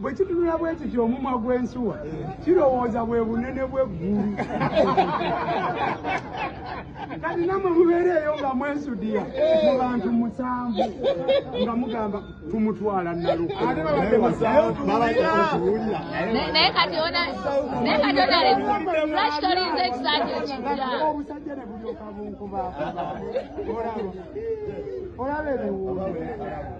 bwe kitunula bwe kiti omumwa gw'ensuwa kirowooza bwe bunene bw'eggulu kati namwe mubeereeyo nga mwensudiya mu bantu musanvu nga mugamba tumutwala nalunaye kati onaobusajja ne bulyoka bunkuba olaba ebiwuuo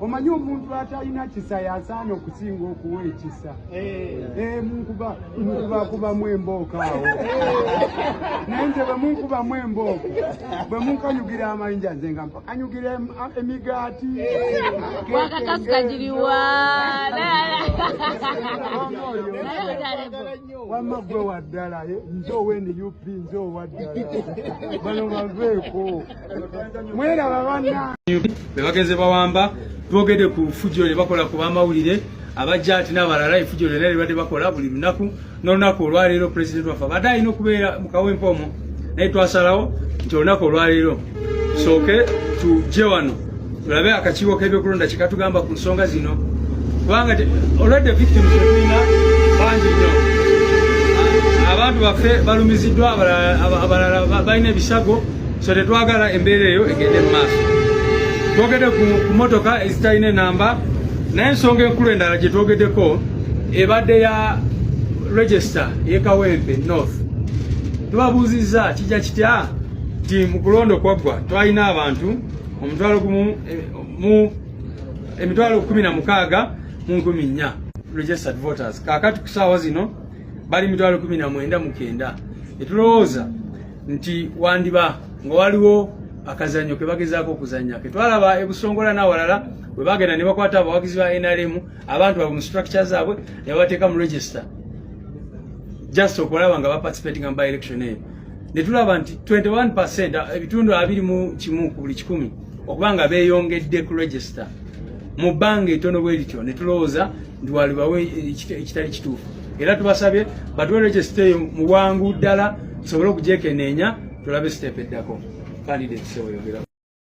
omanyi omuntu atalina kisa yasaana okusinga okuwa ekisa munkubakubamu embooko awo naye nze bwe munkubamu embooko bwe munkanyugira amayinja nze nga mpakanyugira emigaati wamma gwe waddala nze owendi up nze owaddala bano baveeko bebagenze bawamba twogede ku fujo lyebakola ku bamawulire abajja ati nabalala efujo lyona lyebadde bakola buli lunaku nolunaku olwaleero president waffe abadde alina okubeera mukawempa omu naye twasalawo nti olunaku olwaleero soke tuje wano tulabe akakiiko k'ebyokulonda kyekatugamba ku nsonga zino kubanga olwedde victim tetulina bangi nnyo abantu baffe balumiziddwa abalala balina ebisago so tetwagala embeera eyo egende mu maaso twogedde ku motoka ezitalina enamba naye ensonga enkulu endala gye twogeddeko ebadde ya register yekawempe north tubabuuzizza kijja kitya nti mu kulonda okwaggwa twalina abantu omutwalo gumu eh, mu emitwalo eh, kumi na mukaaga mu nkumi nnya registered voters kakati ku saawa zino bali mitwalo kumi na mwenda mukenda etulowooza nti wandiba nga waliwo akazanyo kebagezaako okuzanya ketwalaba ebusongola n'awalala bwe bagenda ne bakwata abawagizi ba nrm abantu babwe mu structure zaabwe ne babateeka mu register just okulaba nga baparticipatinga mu by election eyo ne tulaba nti 21 percent ebitundu abiri mu kimu ku buli kikumi okuba nga beeyongedde ku regisita mu bbanga etono bwe lityo ne tulowooza nti walibawo ekitali kituufu era tubasabye batuwe regisita eyo mu bwangu ddala tusobole okugyekeneenya tulabe siteepu eddako kandidate seweyogerao